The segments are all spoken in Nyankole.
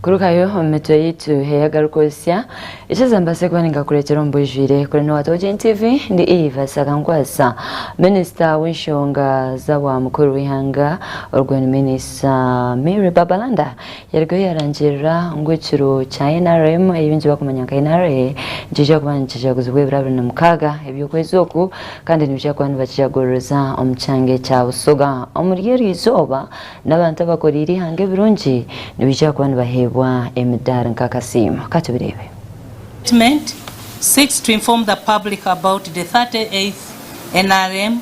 kurugayo omu mitwe yaitu eyagarukozesya ekiza mbaase kuba ningakureetera omu bwijwire kuri ni watogin tv ndi eva sagankwasa minisita w'enshonga z'awa mukuru w'eihanga orwo ni minisita mary babalanda Yarigayo yarangirira ngu ekiro kya NRM, ei baingi barikumanya nka NRA, nikiija kuba nikijaguzibwa ebiro abiri na mukaaga eby'okwezi oku kandi nibaija kuba nibakijaguririza omu kyanga kya Busoga. Omuri eryo izooba, n'abantu abakoreire eihanga ebirungi nibaija kuba nibaheebwa emidaari nk'akasiimo. Ka tubireebe. Statement, Seeks to inform the public about the thirty eighth NRM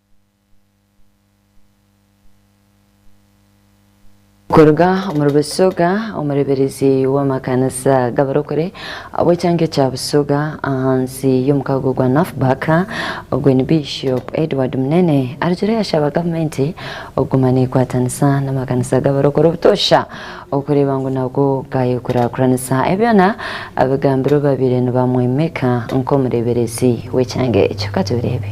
Kuruga omuri Busoga, omureeberezi w'amakanisa g'abarokore ab'ekyanga ekya Busoga ahansi y'omukago gwa NAFBAC, ogwo ni Bishop Edward Munene arugire yashaba gavumenti okuguma neekwatanisa n'amakanisa g'abarokore obutoosha Okureeba ngu nabwo gaayekurakuranisa ebyona abigambirwe babaire nibamwimika nk'omureeberezi w'ekyanga ekyo. Ka tubireebe.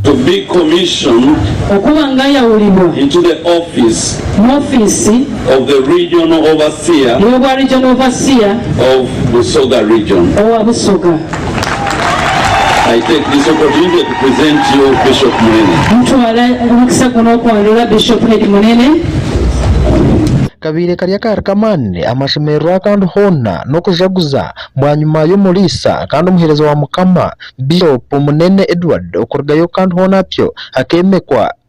To be commissioned Okuba ngayawurirwa into the office mu ofiisi of the Regional Overseer y'obwa Regional Overseer of Busoga Region. owa Busoga. I take this opportunity to present you Bishop Munene. Nitwara omukisa gunu okwarura Bishop Head Munene. Kabaire kari akaare k'amaani amashemererwa akandi hoona n'okujaguza bwanyima y'omuriisa kandi omuheereza wa Mukama Bishop Munene Edward okurugayo kandi hoona atyo akeemekwa.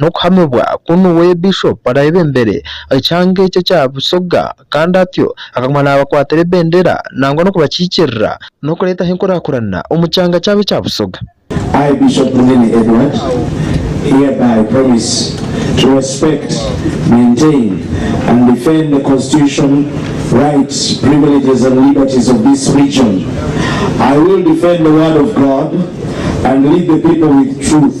n'okuhamibwa ku niwe Bishop araayebembere aha kyanga ekyo ekya Busoga kandi atyo akaguma naabakwatira ebendera nangwa n'okubakiikirira n'okureetaho enkurakurana omu kyanga kyabo ekya Busoga. I, Bishop Munene Edward, hereby promise to respect, maintain and defend the Constitution, rights, privileges and liberties of this region. I will defend the word of God and lead the people with truth.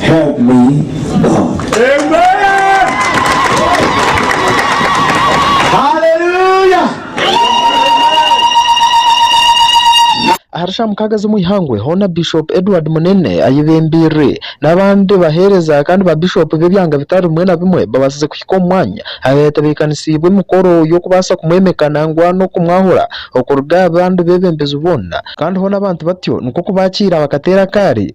Help me God. Hallelujah! Ahari sha mukaaga z'omu ihangwe hoona Bishop Edward Munene ayebembeirire n'abandi baheereza kandi ba Bishop b'ebyanga bitari bimwe na bimwe babaasize kuhika omu mwanya aha yatebeekanisiibwe emikoro y'okubaasa kumwemeka nangwa n'okumwahura okuruga aha bandi beebembezi boona. Kandi hoona abantu batyo nikwo kubaakiira bakateera akaari.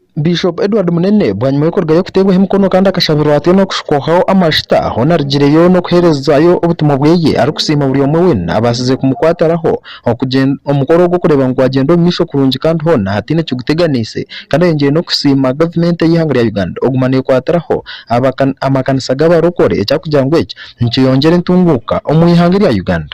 Bishop Edward Munene bwanyima y'okurugayo okuteebwaho emikono kandi akashabirwa atyo n'okushukwaho amajuta, hoona arigireyo n'okuheerezaayo obutumwa bweye arikusiima buri omwe weena abaasize kumukwatiraho okugyenda omukoro ogwo kureeba ngu gwagyenda omu maisho kurungi kandi hoona hataine kiguteganiise kandi ayongyire n'okusiima gavumenti y'eihanga rya Uganda okuguma nekwatiraho amakanisa g'abarokore ekyakugira ngu eki nikiyongyera entunguuka omu ihanga erya Uganda.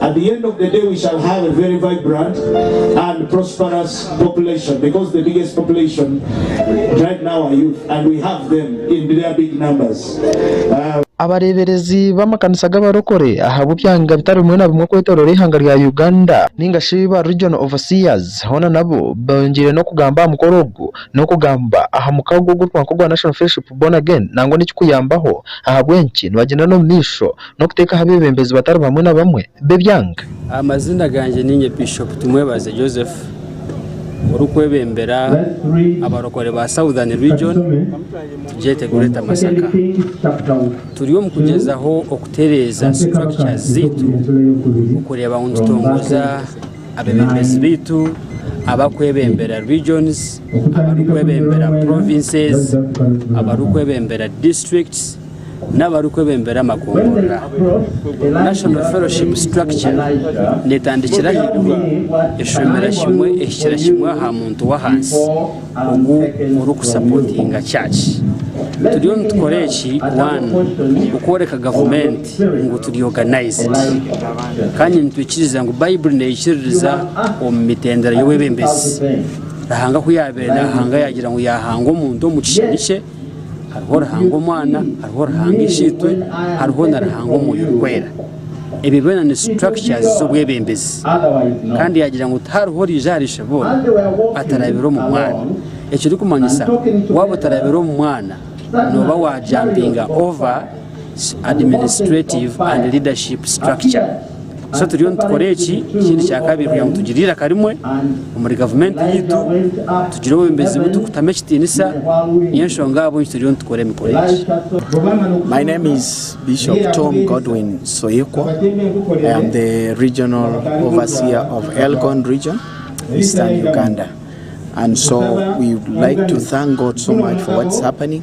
At the end of the day we shall have a very vibrant and prosperous population because the biggest population right now are youth and we have them in their big numbers. Abareeberezi b'amakanisa g'abarokore ahabw'ebyanga bitari bimwe na bimwe okwetooroora eihanga rya Uganda nainga shi ba Regional Overseers hoona nabo bongyeire n'okugamba aha mukoro ogu n'okugamba aha mukago ogurikwangwa ogwa National Fellowship Born Again nangwa n'ekikuyambaho ahabw'enki nibagyenda n'omumaisho n'okuteeka aha beebembezi batari bamwe na bamwe b'ebyanga. Amazina gangye niinye Bishop Tumwebaze Joseph orikwebembera abarokore ba Southern Region tugyete Greater Masaka. Turi omu kugyezaho okutereeza structures zaitu okureeba ngu nitutongoza abebembezi baitu abakwebembera Regions, abarikwebembera Provinces, abarikwebembera Districts, n'abarikwebembera amakungurira. National Fellowship Structure neetandikira ahaiguru, eshomera kimwe ehikira kimwe aha muntu w'ahansi ogu orikusapotinga church. Turiyo nitukora eki, one, okworeka gavumenti ngu turi organized kandi nitwikiriza ngu Baiburi neikiririza omu mitendera y'obwebembezi. Ruhanga ku yaabaire naahanga yaagira ngu yaahanga omuntu omu kishushani kye, Hariho Ruhanga Omwana, hariho Ruhanga Ishe-itwe, hariho na Ruhanga Omwoyo Orikwera. Ebyo byona ni structures z'obwebembezi. Kandi yaagira ngu tihariho orije ahari Ishe boona atarabire omu Mwana. Ekirikumanyisa waaba otarabire omu Mwana nooba wa jumpinga over. administrative and leadership structure so turiyo nitukora eki ekindi kyakabiri kugira ngu tugire eiraka rimwe omuri gavumenti yaitu tugire obwebembezi buturikutamu ekitiinisa niyo enshonga ahabw'enki turiyo nitukora emikura egi My name is Bishop Tom Godwin Soyekwo. I am the regional overseer of Elgon region, Eastern Uganda. And so we would like to thank God so much for what's happening.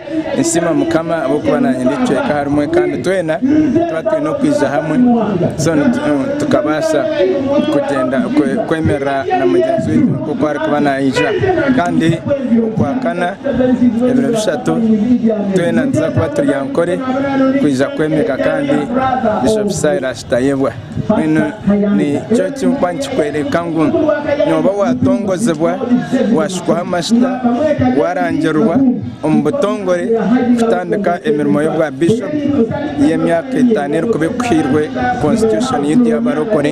Ninsiima mukama ahabw'okuba naanye ndi ekicweka aha rumwe kandi twena tuba twine okwija hamwe so tukabaasa kugyenda kwemerera na mugyenzi waitu nk'oku arikuba naija kandi okwakana ebiro bishatu twena nituza kuba turi aha nkore kwija kwemeka kandi Bishop Silas Tayebwa. Mbwenu nikyo ekirikuba nikikworeka ngu nooba waatongozibwa, waashukwaho amajuta, waarangirwa omu butongore kutandika emirimo y'obwa biishopu y'emyaka etaano erikuba ekuhairwe Konsititushooni yaitu y'abarokore.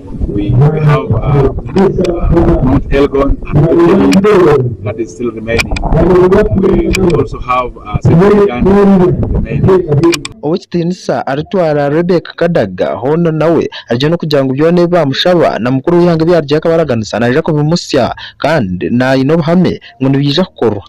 Ow'ekitiinisa aritwara Rebecca Kadaga hoona nawe arigye n'okugira ngu byona ebi baamushaba na mukuru w'eihanga ebi yaarugire akabaraganisa naija kubimutsya kandi aine obuhame ngu nibiija kukorwa.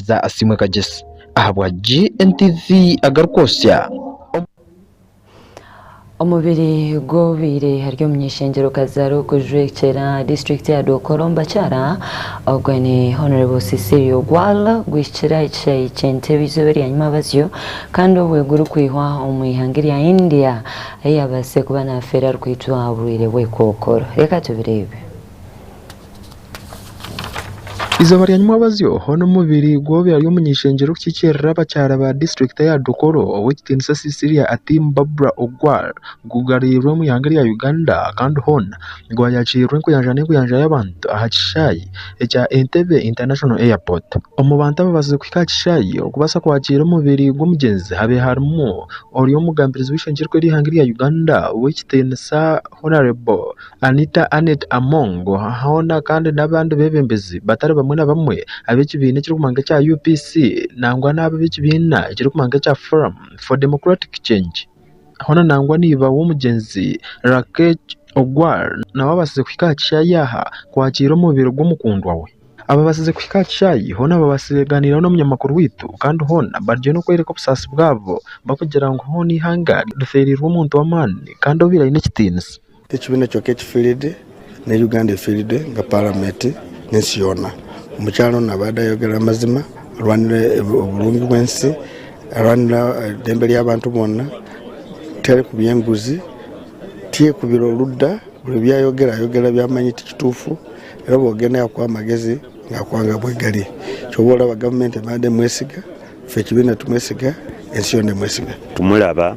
za Asiimwe Kagyesi ahabwa GNTV agarikwotsya. Omubiri gw'owabaire ari omunyeshengyerokaz ari okujwekyera disiturikiti ya Dokolo omu bakyara ogwe ni Hon Cecilia Ogwal gwihikire aha kishaayi kye Ntebe eizooba eryanyima bazyo kandi obwe gurikwihwa omu ihanga erya India ahu yabaasire kuba nafeera arikwitwa oburwaire bw'ekookoro. Reka tubireebe. Eizooba rya nyimwabazyo hoona omubiri gw'oyo ari omuny'eishengyero kukikiirira abakyara ba disiturikiti eya Dokoro ow'ekitiinisa Cecilia Atim Barbra Ogwal gugarurirwe omu ihanga erya Uganda kandi hoona gwayakiirirwa enkuyanja n'enkuyanja y'abantu aha kishaayi ekya Entebbe International Airport. Omu bantu ababaasize kuhika aha kishaayi okubaasa kwakiira omubiri gw'omugyenzi habe harimu ori omugambirizi w'eishengyerwa ry'eihanga erya Uganda ow'ekitiinisa Honarebo Anita Annet Among hoona kandi n'abandi beebembezi batari bamwe na bamwe ab'ekibiina ekirikumanywa nk'ekya UPC nangwa n'abo ab'ekibiina ekirikumanywa nk'ekya Forum for Democratic Change hoona nangwa na iba w'omugyenzi Rakesh Ogwal nawe abaasize kuhika aha kishaayi aha kwakiira omubiri gw'omukundwa we. Abaabaasize kuhika aha kishaayi hoona baabaasize beegaaniiraho n'omunyamakuru waitu kandi hoona bariyo nibakworeka obusaasi bwabo barikugira ngu hoona eihanga rifeereirwe omuntu w'amaani kandi obaire aine ekitiinisa. Ti ekibiina kyonka ekifiiride, ne Uganda efiiride nka Paramenti n'ensi yoona. Omukyara onu abade ayogera amazima, arwanira oburungi bw'ensi, arwanira eidembe ry'abantu boona, ti ari kubya enguzi, ti ari kubira oruda. Buri bi ayogera, ayogera by'amanyi ti kituufu. Reero obu ogenda yakuha amagezi nakuha nka bwegari. Shoboba oraba Gavumenti ebade emwesiga, ife ekibiina tumwesiga, ensi yoona emwesiga. Tumuraba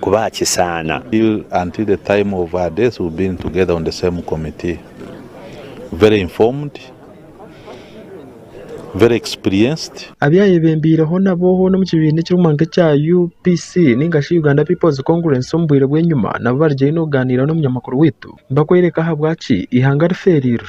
kuba aha kisaana. Until the time of her death we've been together on the same committee. Very informed, very experienced. Abu ayebembeireho nabo hoona omu kibiina ekirikumanywa nk'ekya UPC nainga shi Uganda People's Congress omu bwire bw'enyima nabo bari gye haihi n'okugaaniira n'omunyamakuru waitu bakworeka ahabwaki eihanga rifeereirwe.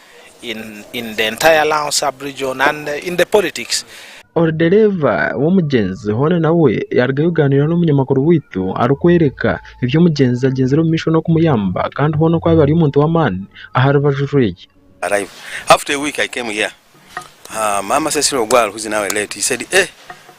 Orudereeva w'omugyenzi hoona nawe yarugayo kuganira n'omunyamakuru waitu arikworeka ebi omugyenzi agyenzire omu maisho n'okumuyamba kandi hoona oku abaire ari omuntu w'amaani aha rubaju rweye.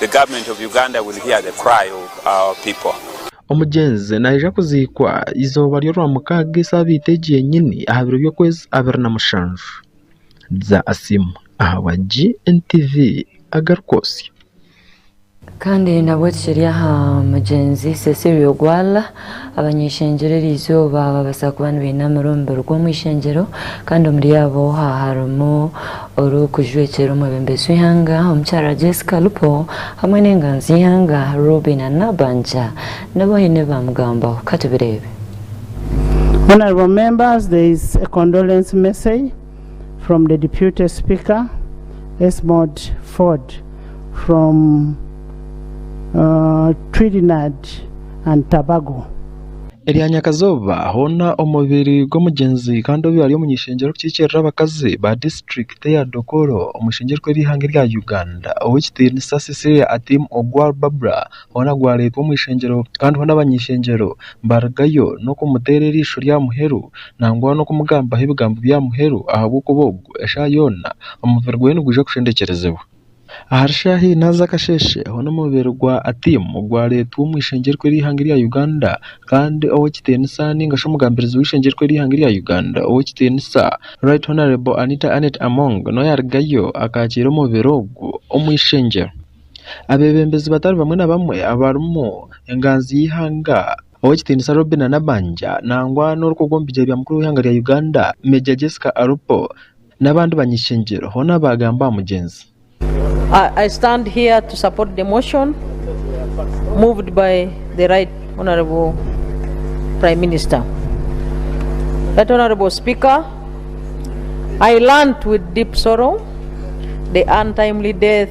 the government of Uganda will hear the cry of our people. Omugyenzi naija kuziikwa eizooba ry'orwamukaaga esaabiiti egi yenyini aha biro by'okwezi abiri na mushanju. Dza Asim ahabwa GNTV agari kwotsya. Kandi nabweki kiri aha mugyenzi Cecilio Gwala Abany'eishengyero eryo izooba babaasa kuba nibainaamira omu biruga omu ishengyero, kandi omuri abo harimu orikujwekyera omwebembezi w'eihanga Omukyara Jessica Alupo hamwe n'enganzi y'eihanga Robinah Nabbanja nabo haine ebi baamugambaho. Ka tubireebe. Honourable Members, there is a condolence message. from the Deputy Speaker Esmod Ford from uh, Trinidad and Tobago. Erya Nyakazooba hoona omubiri gw'omugyenzi kandi obu ari omunyeshengyero w'okukiikirira abakazi ba disiturikiti eya Dokolo omu ishengyerwa ry'eihanga erya Uganda, Ow'ekitiinisa Cecilia Atim Ogwal Barbara Hoona gwareetwa omu ishengyero, kandi hoona abany'ishengyero barigayo n'okumuteera eriisho rya muheru, nangwa n'okumugambaho ebigambo bya muheru, ahabw'okuba ogu, eshaaha yoona, omubiri gweye nigwija kushendekyerezibwa. Ahari shaaha ina z'akasheeshe, hoona omubiri gwa Atim gwareetwa omu ishengyerwa ery'eihanga erya Uganda, kandi ow'ekitiinisa nainga shi omugambirizi w'eishengyerwa ery'eihanga erya Uganda ow'ekitiinisa, Right Honourable Anita Annet Among, nooyo arigayo akaakiira omubiri ogu omu ishengyero. Abeebembezi batari bamwe na bamwe abarimu engaanzi y'eihanga ow'ekitiinisa Robinah Nabbanja nangwa n'orikwo gw'omubigyere bya mukuru w'eihanga rya Uganda Major Jessica Alupo n'abandi banyeshengyero hoona baagamba aha mugyenzi. I stand here to support the motion moved by the Right Honourable Prime Minister. Right Honourable Speaker, I learnt with deep sorrow the untimely death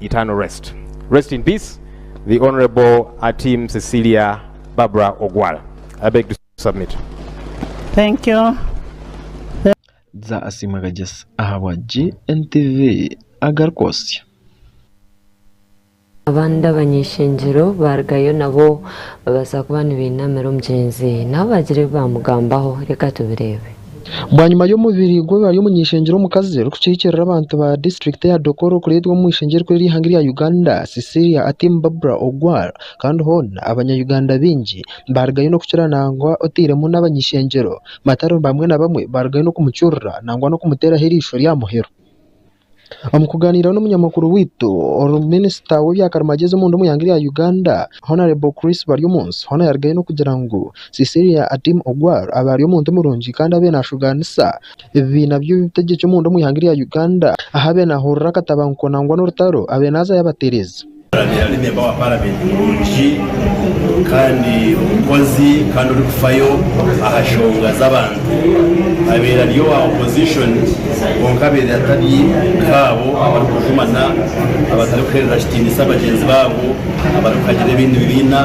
Eternal rest rest in peace the honourable Atim Cecilia Barbara Ogwal I beg to submit. Thank you. Za asiimwe Kagyesa ahabwa GNTV agarikwotsya. Abandi abany'ishengyero baarugayo nabo babaasa kuba nibainamira omugyenzi nabo baagira ebi baamugambaho. Reka tubireebe. Bwanyima y'omubiri gwe bari omu nyeshengyero omukazi orikukiikirira abantu ba disiturikiti ya Dokoro kureetwa omu ishengye rikuru ery'eihanga erya Uganda Cecilia Atim Barbara Ogwal kandi hoona abanya Uganda baingi barugayo n'okukira nangwa otairemu n'abany'ishengyero matari bamwe na bamwe barugayo n'okumucurura nangwa n'okumuteraho eirishyo rya muheru. Omu kuganiira n'omunyamakuru waitu minisita w'ebya karimagyezi omunda omu ihanga rya Uganda Honarebo Chris Baryomunsi hoona yarigayo n'okugira ngu Cecilia Atim Ogwal abaire omuntu murungi kandi abaire nashuugaanisa ebibiina by'obutegyeki omunda omu ihanga rya Uganda ahu abaire nahurira akatabanguko nangwa n'orutaro abaire naza yabatereeza. Arabire ari memba wa Paramenti murungi kandi omukozi kandi orikufayo aha shonga z'abantu. Abire ari owa opozishoni kwonka abire atari nk'abo abarikugumana, abatarikuhereza kitiinisa bagyenzi baabo, abarikuhagira ebindi bibiina.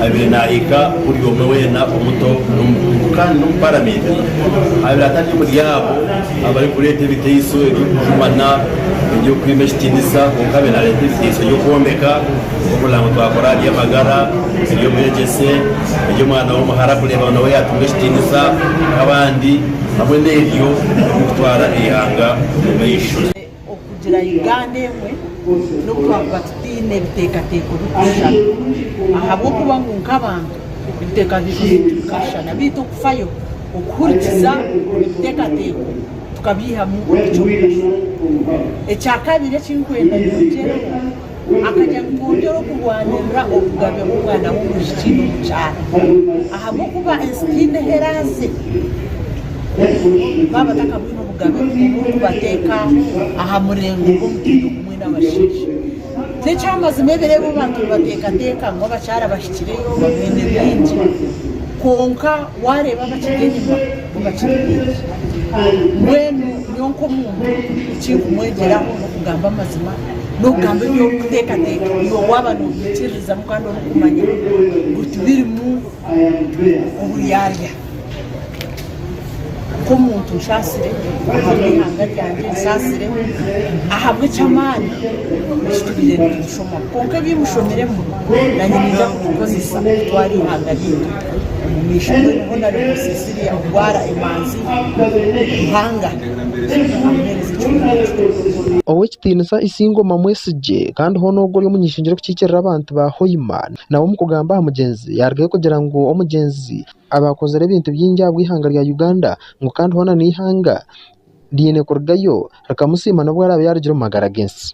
Abire nahiga buri omwe weena, omuto n'omukuru kandi n'omu Paramenti abire atari omuri abo. Abarikureeta ebiteiso eby'okujumana, eby'okwima ekitiinisa, kwonka abe naareeta ebiteiso by'okwombeka, nk'omunaango twakora aha by'amagara, eby'obwegyese, eby'omwana w'omuhara kureeba ngu nawe yaatunga ekitiinisa nk'abandi, hamwe n'ebyo eby'okutwara eihanga omu maisho. Okugira Uganda emwe n'obu twakuba tutaine ebiteekateeko birikushushana ahabw'okuba ngu nk'abantu ebiteekateeko byaitu bikashushana beitu okufayo okuhurikiza ebiteekateeko tukabyihamu eky'okugashaho. Ekyakabiri eki nkwenda ngu ogyereho akagira ngu twongyere okurwanirira obugabe bw'omwana w'omwishiki n'omukyara ahabw'okuba ensi tiine ahu eraaze baaba batakabwine obugabe oburikubateeka aha murengo gw'omutindo gumwe n'abashaija. N'ekyamazima ebiro ebi abantu nibateekateeka ngu abakyara bahikireyo baine bingi kwonka waareeba abakiri enyima bo bakiri baingi. Mbwenu nyowe nk'omuntu eki nkumwegyeraho n'okugamba amazima. n'okugamba eby'okuteekateeka iwe waaba noobihikiirizamu kandi orikumanya ngu tibirimu oburyarya. Nk'omuntu nshaasire ahabw'eihanga ryangye, nshaasire ahabw'eky'amaani eki turiire nitushoma. Kwonka ebi mushomiremu naanye niija kubikozesa kutwara eihanga ryaitu omu maisho mbwenu hoona ribuuze ziriya, ogwara emanzi buhanga. nambere Sitaane amuheereza ekihuumuro ekirikuruga omu Ruhanga. Ow'ekitiinisa Isingoma Mwesigye kandi hoona ogwo ori omunyeshengyero orikukiikirira abantu ba Hoima nawe omu kugamba aha mugyenzi yarugayo kugira ngu omugyenzi aba akozire ebintu bingi ahabw'eihanga rya Uganda ngu kandi hoona n'eihanga riine kurugayo rikamusiima n'obu araabe yaarugire omu magara g'ensi.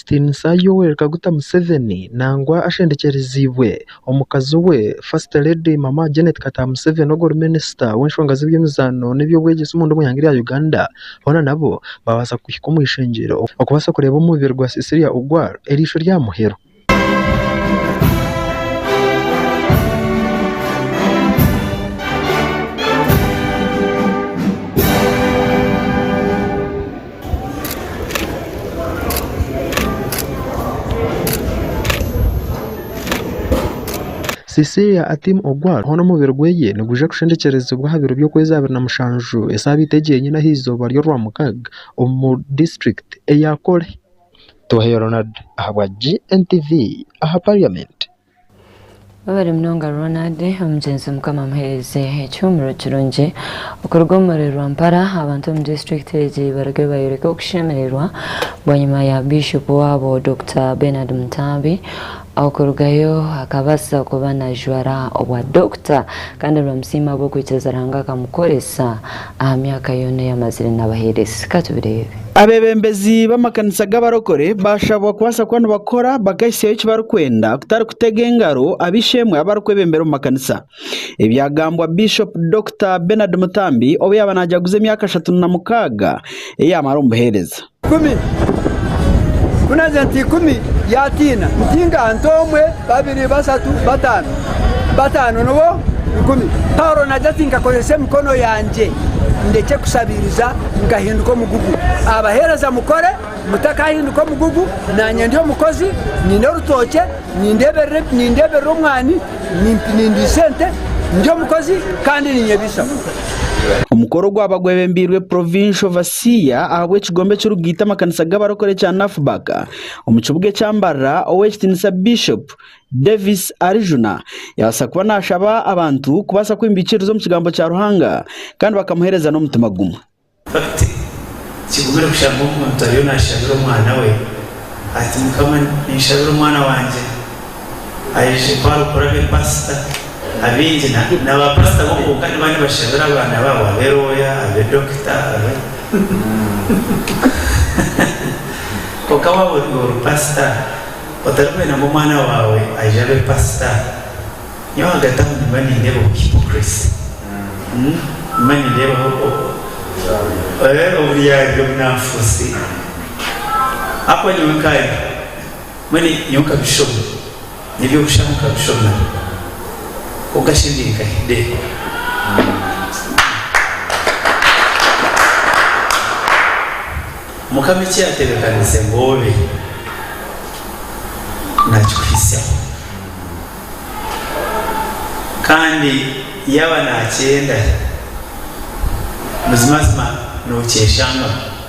Tiinisa Yoweri Kaguta Museveni nangwa ashendekyereziibwe omukazi we First Lady Mama Janet Kataha Museveni ogwori Minisita w'enshonga z'ebyemizaano n'ebyobwegyese omunda omu ihanga rya Uganda boona nabo babaasa kuhika omu ishengyero okubaasa kureeba omubiri gwa Cecilia Ogwal eriisho rya Muheru. Cecilia Atim Ogwal hoona omubiri gwe nigwija kushendekyerezibwa aha biro by'okwezi abiri na mushanju esaabiiti egi yenyine aha izooba ry'orwamukaaga omu disiturikiti eya Kole. Tuha Ronald Ahabwa GNTV aha parliament. Webare munonga Ronald omugyenzi mukama amuhereze ekihumuro kirungi okuruga omu murere Rwampara abantu omu district egi baruge bayoreke okushemererwa bwanyima ya bishop wabo Doctor Benard Mutaabi okurugayo akabasa kuba najwara obwa Doctor kandi nibamusiima ahabwokwikiriza Ruhanga akamukoresa Aha myaka yoona ei amazire n'abaheereza. Ka tubireebe. Abeebembezi b'amakanisa g'abarokore baashabwa kubaasa kuba nibakora bakahitsyayo eki barikwenda kutari kutega engaro ab'eishe-emwe abu barikwebembera omu makanisa. Ebyagambwa Bishop Dokita Bernard Mutambi obu yaaba naajaguza emyaka ashatu na mukaaga ei yaamara omu buheereza. Ikumi. Ku naagire nti ikumi, yaatiina nti nka nta omwe, babiri, bashatu, bataano, bataano nibo ikumi. Paulo naagira ati, Nkakozesa emikono yangye ndekye kushabiiriza, nkahinduka omugugu. Abaheereza mukore, mutakahinduka omugugu, naanye ndi omukozi, nyine orutookye, nindeeberera omwani, nindiisa ente, ndi omukozi kandi ninyebeisaho. Omukoro gwaba gwebembeirwe Provincial Siya ahabw'ekigombe ekirikugaita amakanisa g'abarokore ekya NAFBAK omu kibuga ekya Mbarara, Ow'ekitiinisa Bishop Davis Arijuna yabaasa kuba naashaba abantu kubaasa kwimba eikiriza omu Kigambo kya Ruhanga kandi bakamuheereza n'omutima gumwe. Hati, kigumire kushanga omuntu ariyo naashabira omwana we ati, Mukama, ninshabira omwana wangye. Aije kwaro kuraba epasita. Abaingi na ba pasita bo kwonka niba nibashabira abaana babo abe roya, abe dokita, abe Kwonka waba ori ori pasita otari kwenda ngu omwana wawe aije abe pasita, nyowe ahagati aho nimba nindeba obu hypocrisy. Nimba nindeba oburyarya obunafusi. Ahakuba nyowe nkaye. Mbwenu nyowe nkabishoma, n'eby'okushaba nkabishoma kwonka shi ndi nka Hideo? Mukama eki yaatebeekaniise ngu obe, naakikuhitsyaho. Kandi yaaba naakyenda, buzimazima nookyeshangamu.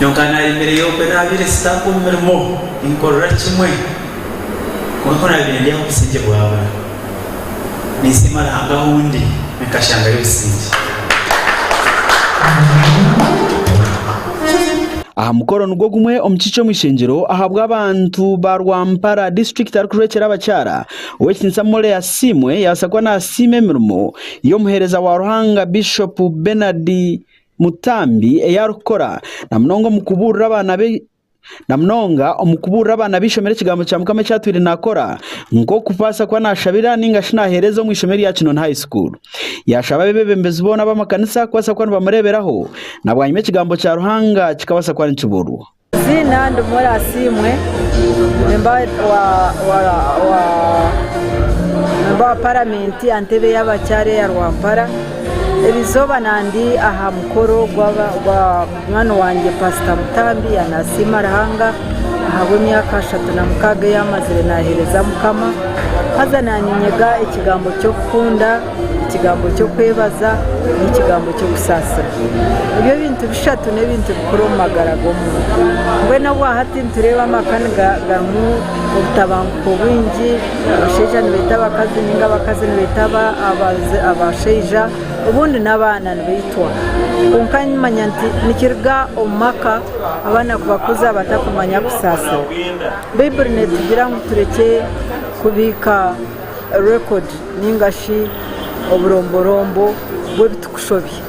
Nyoonka naayemereye okwe naabaire sitaaka omu mirimo ninkorera kimwe kwonka ku naabaire ndi aha busingye bwabura ninsiima Ruhanga ahu ndi nkashangayo obusingye. Aha mukoro nigwo gumwe omu kiikye omu ishengyero ahabw'abantu ba Rwampara disiturikiti arikuhwekyera abakyara, Ow'ekitiinisa Mole Asiimwe yabaasa kuba naasiima emirimo y'omuheereza wa Ruhanga Bishopu Benard Mutambi ei arikukora na munonga omu kubuurira abaana be na munonga omu kubuurira abaana b'eishomero ekigambo kya Mukama eki atwire naakora nk'okubaasa kuba naashabira nainga shi naaheereza omu ishomero rya Kinoni High School. Yaashaba abeebembezi boona b'amakanisa kubaasa kuba nibamureeberaho na bwanyima ekigambo kya Ruhanga kikabaasa kuba nikibuurwa. Eiziina ndi Mura Asiimwe nimba owa paramenti aha ntebe y'abakyara eya Rwampara. Eri izooba ndi aha mukoro gwa munywani wangye Paasita Mutambi yaaba naasiima Ruhanga ahabw'emyaka ashatu na mukaaga ei yaamazire naaheereza Mukama. Haza naanye nyega ekigambo ky'okukunda. Ekigambo ky'okwebaza n'ekigambo ky'okusaasira nibyo bintu bishatu n'ebintu bikuru omu magara g'omuntu. Mbwenu obwa hati nitureeba amaka garimu obutabanguko bwingi, abashaija nibaita abakazi nainga abakazi nibaita abashaija, obundi n'abaana nibaitwa. Kwonka nimanya nti nikiruga omu maka abaana kubakuza batakumanya kusaasira. Baiburi neetugira ngu turekye kubiika. record ninga shi oburomborombo bw'ebi turikushobya.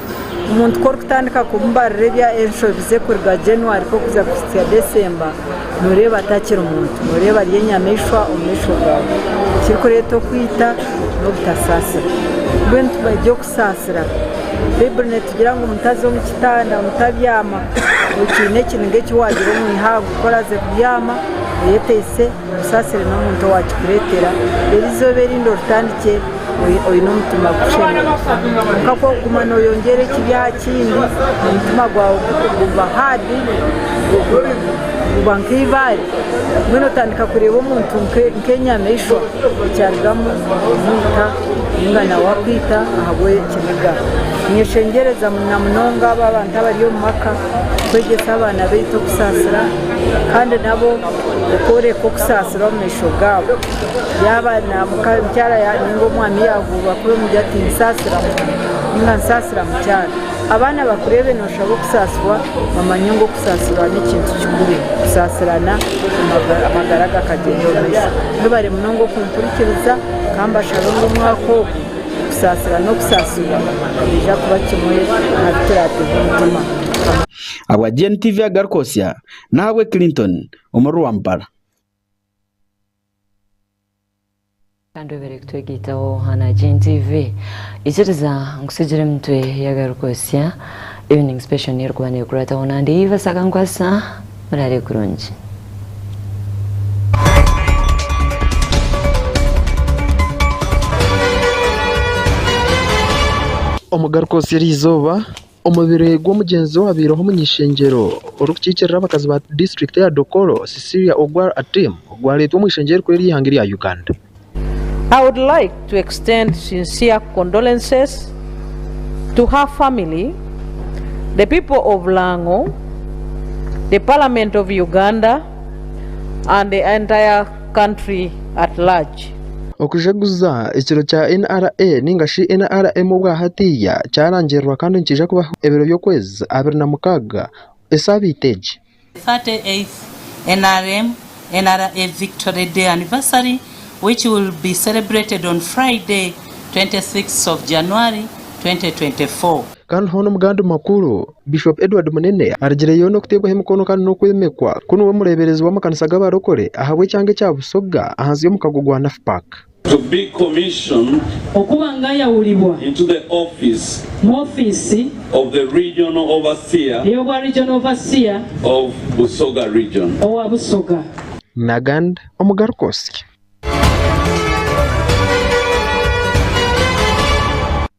Omuntu ku orikutandika kumubarira enshobi ze kuruga January kuza kuhitsya December, nooreeba atakiri muntu, nooreeba ari enyamaishwa omu maisho gaawe. Ekirikureeta okwita n'obutasaasira. Mbwenu tukwenda okusaasira. Baiburi neetugira ngu mutaza omu kitanda, mutabyama. Okiine eki, ninga eki waagira omwihangwe ku oraze kubyama, oyeteise. Osaasire n'omuntu owaakikureetera. Reero eizooba erindi oritandikye oine omutima gushemire. Kwonka ku orikuguma nooyongyera ekibi aha kindi, omutima gwawe guba haadi, guba nk'eibaare. Mbwenu otandika kureeba omuntu nk'enyamaishwa ekyarugamu kumuita nainga nawe akwita ahabw'ekiniga. Ninyeshengyereza namunonga abo abantu abari omu maka kwegyesa abaana baitu okusaasira kandi nabo Okworeka okusaasira omu maisho gaabo. Yaaba mukyara nainga omwami yaahuurwa kuri omuri ati, Ninsaasira mwami nainga Ninsaasira mukyara, abaana bakureebe nooshaba okusaasirwa, bamanye ngu okusaasirwa n'ekintu kikuru. Kusaasirana amagara gakagyenda omu maisho. Mwebare munonga okumpurikiriza ka mbashabe ngu omwaka ogu okusaasira n'okusaasirwa nibiija kuba kimwe aha bi turaateege omutima. Ahabwa GNTV agaruka Hosea Nahabwe Clinton omuri Rwampara. Kandi obeire kutwegaitaho aha Nagin TV, ikiriza nkutsigire emitwe y'agarikwotsya Evening Special n'erikuba neekurataho nandi Eva Sakankwasa. Muraare kurungi. Omugarikwotsya eriizooba. Omubiri gw'omugyenzi owabaireho omuny'ishengyero orikukiikirira abakazi ba disiturikiti ya Dokolo, Cecilia Ogwal Atim gwareetwa omu ishengyero erikuru ery'eihanga erya Uganda. I would like to extend sincere condolences to her family, the people of Lang'o, the Parliament of Uganda and the entire country at large. Okujaguza ekiro kya NRA ninga shi NRM obwa hatiiya kyarangirirwa kandi nikiija kubaho ebiro by'okwezi abiri na mukaaga esaabiiti egi. 38th NRM, NRA Victory Day Anniversary which will be celebrated on Friday 26th of January 2024. Kandi hoona omu gandi makuru. Bishop Edward Munene arigireyo n'okuteebwaho emikono kandi n'okwemekwa ku niwe mureeberezi w'amakanisa g'abarokore ahabw'ekyanga ekya Busoga ahansi y'omukago gwa NAFPAC. To be commissioned. Okuba ngayawulibwa. Into the office. Mu ofiisi. Of the regional overseer. Ey'obwa regional overseer. Of Busoga region. Owa Busoga. Nagand omugaruka osye.